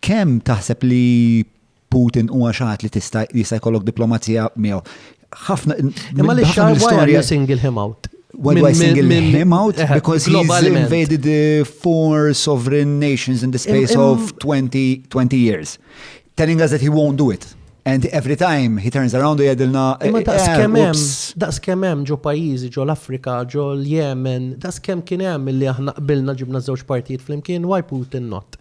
Kemm taħseb li Putin huwa xi ħadd li tista' jista' jkollok diplomazija miegħu? Ħafna Imma li xar wara you single him out. Why do I single him out? Eh, Because he's invaded eh, four sovereign nations in the space of 20, 20 years. Telling us that he won't do it. And every time he turns around u jadilna. Imma eh, daqs eh, kemem, daqs kemem ġo pajizi, ġo l-Afrika, ġo l-Jemen, daqs kem kienem li aħna qbilna ġibna żewġ partijiet flimkien, why Putin not?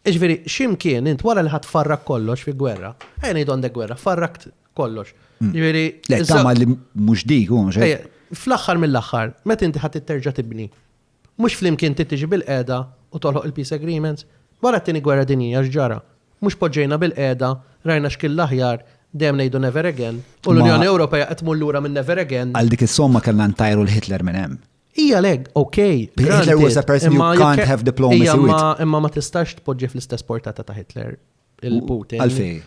Jiġifieri, x'imkien int wara li ħadd farrak kollox fi gwerra, ejja ngħidu għandek gwerra, farrakt kollox. Mm. Jiġifieri. Le, tama li mhux dik hu mhux Fl-aħħar mill-aħħar, meta inti ħadd terġa' tibni, mhux flimkien titiġi bil-qeda u tolħoq il-peace agreements, wara t-tieni gwerra dinjija x'ġara. Mhux poġġejna bil-qeda, rajna x'kien l-aħjar, dejjem ngħidu never again, u l-Unjoni Ewropea qed tmur lura minn never again. Għal dik is-somma kellna ntajru l-Hitler minn hemm. Ija leg, ok. Hitler was a person you can't have diplomacy with. Imma ma tistax tpoġġi fl-istess portata ta' Hitler il-Putin. Għalfej.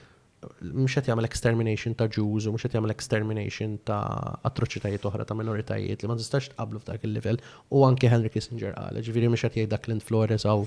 Mux għet jgħamil extermination ta' Jews u mux għet jgħamil extermination ta' atroċitajiet oħra ta' minoritajiet li ma tistax tqablu f'dak il-level u anke Henry Kissinger għal, ġviri mux għet jgħid dak l-int Flores għaw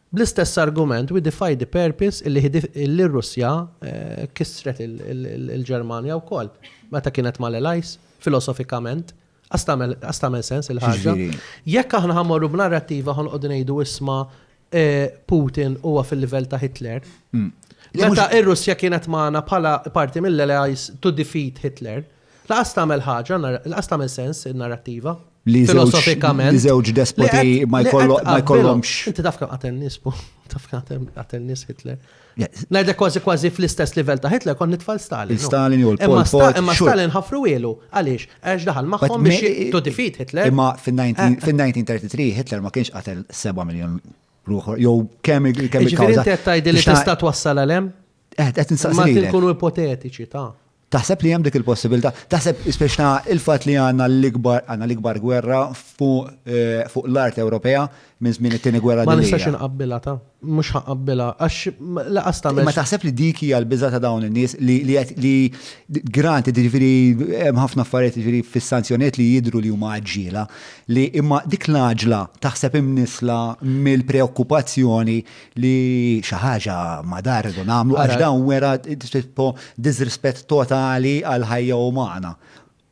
Bl-istess argument, we defy the purpose illi illi r-Russja kissret il-Ġermanja wkoll meta kienet mal-Allies, filosofikament. Qas tagħmel qas tagħmel sens il-ħaġa. Jekk aħna ħa mmorru b'narrattiva ħa noqogħdu ngħidu isma' Putin huwa fil-livell ta' Hitler. Meta r-Russja kienet magħna bħala parti mill-Allies to defeat Hitler. Laqas tagħmel ħaġa, laqas tagħmel sens in-narrattiva. Li filosofikament. Li żewġ despoti ma jkollhomx. Inti taf kemm qatel nies, taf kemm qatel nies Hitler. Ngħidlek kważi kważi fl-istess livell ta' Hitler kon nitfal Stalin. Stalin u l-Pol Pot. Imma Stalin ħafru ilu. Għaliex? Għax daħal magħhom biex to defeat Hitler. Imma fin-1933 Hitler ma kienx qatel 7 miljon ruħor. Jew kemm kemm il-kawża. Ġifieri tgħid li tista' twassal għalem? Eh, qed insaqsi. Ma tkunu ipotetiċi ta' Taħseb li hemm dik il-possibilità? Taħseb speċta il-fatt li għandna l-ikbar għandna l-ikbar gwerra fuq l-art Ewropea minn żmien it-Tieni Gwerra Dinjija? Ma nistax inqabbilha ta. Mhux ħa nqabbilha għax lanqas tagħmel. Imma taħseb li dik hija l-biża' ta' dawn in-nies li qed li grant jiġifieri hemm ħafna affarijiet jiġifieri fis-sanzjonijiet li jidhru li huma għaġġiela li imma dik l-għaġla taħseb imnissla mill-preokkupazzjoni li xi ħaġa ma dar irridu nagħmlu għax dawn wera tipo disrispett totali għal ħajja umana.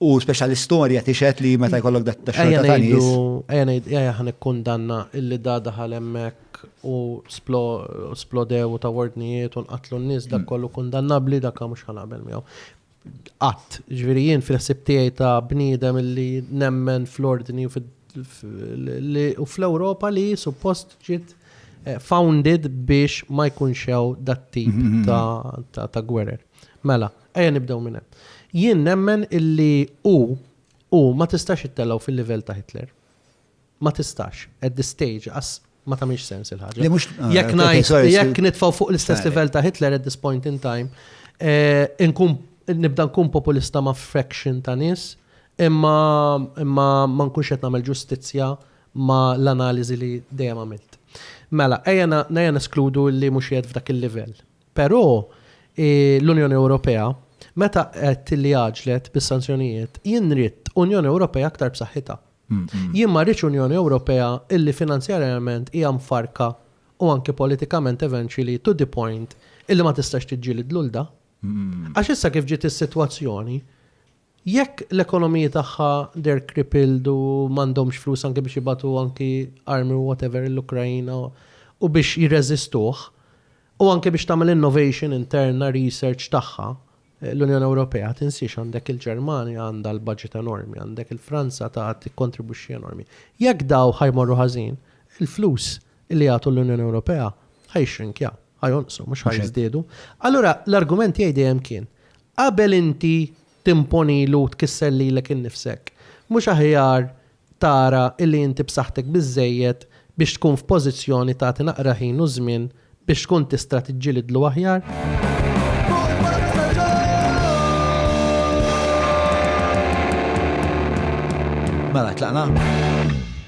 U speċjal l-istorja tixed li meta jkollok dat xorta ta' nies. Ejja ngħid ejja ħan ikkundanna illi da daħal hemmhekk u splodew u ta' wordnijiet u nqatlu n-nies dak kollu kundannabbli dak mhux ħanaqbel miegħu. qatt. Ġifieri jien fil-ħsieb tiegħi ta' bniedem li nemmen fl-ordni u fl-Ewropa li suppost ġiet eh, founded biex ma jkunx hemm dat tip mhm. ta' gwerer. Mela, ejja nibdew minn hemm. Jien nemmen illi u u ma tistax ittellgħu fil-livell ta' Hitler. ma tistax. At this stage, as ma tamiex sens il-ħagġa. Li mux. Ah, jek najt, jek nitfaw fuq l-istess level ta' Hitler at this point in time, eh, nkun nibda nkun populista ma' fraction ta' nis, imma imma ma nkunx qed nagħmel ġustizzja ma' l-analiżi li dejjem għamilt. Mela, ejja nejja neskludu li mhux jgħid f'dak il-livell. Però eh, l-Unjoni Ewropea meta qed li għaġlet bis-sanzjonijiet, jien Unjoni Ewropea aktar b'saħħitha. Jien ma rridx Unjoni Ewropea illi finanzjarjament hija mfarrka u anki politikament eventually to the point illi ma tistax tiġġieled lulda. Għax issa kif ġiet is-sitwazzjoni, jekk l-ekonomiji tagħha they're crippled u m'għandhomx flus anki biex jibgħatu anki armi u whatever lill-Ukraina u biex jirreżistuh, U anke biex tagħmel innovation interna, research tagħha, l-Unjoni Ewropea tinsiex għandek il-Ġermanja għandha l-budget enormi, għandek il-Franza ta' tikkontribwixxi enormi. Jekk daw ħa jmorru ħażin, il-flus li jagħtu l-Unjoni Ewropea ħa jixxrinkja, ħa jonqsu mhux ħa jiżdiedu. Allura l-argument tiegħi dejjem kien, qabel inti timponilu tkisser lilek innifsek, mhux aħjar tara illi inti b'saħħtek biżżejjed biex tkun f'pożizzjoni tagħti naqra ħin u żmien biex tkun tistra tiġġilidlu aħjar. Mela, tlaqna?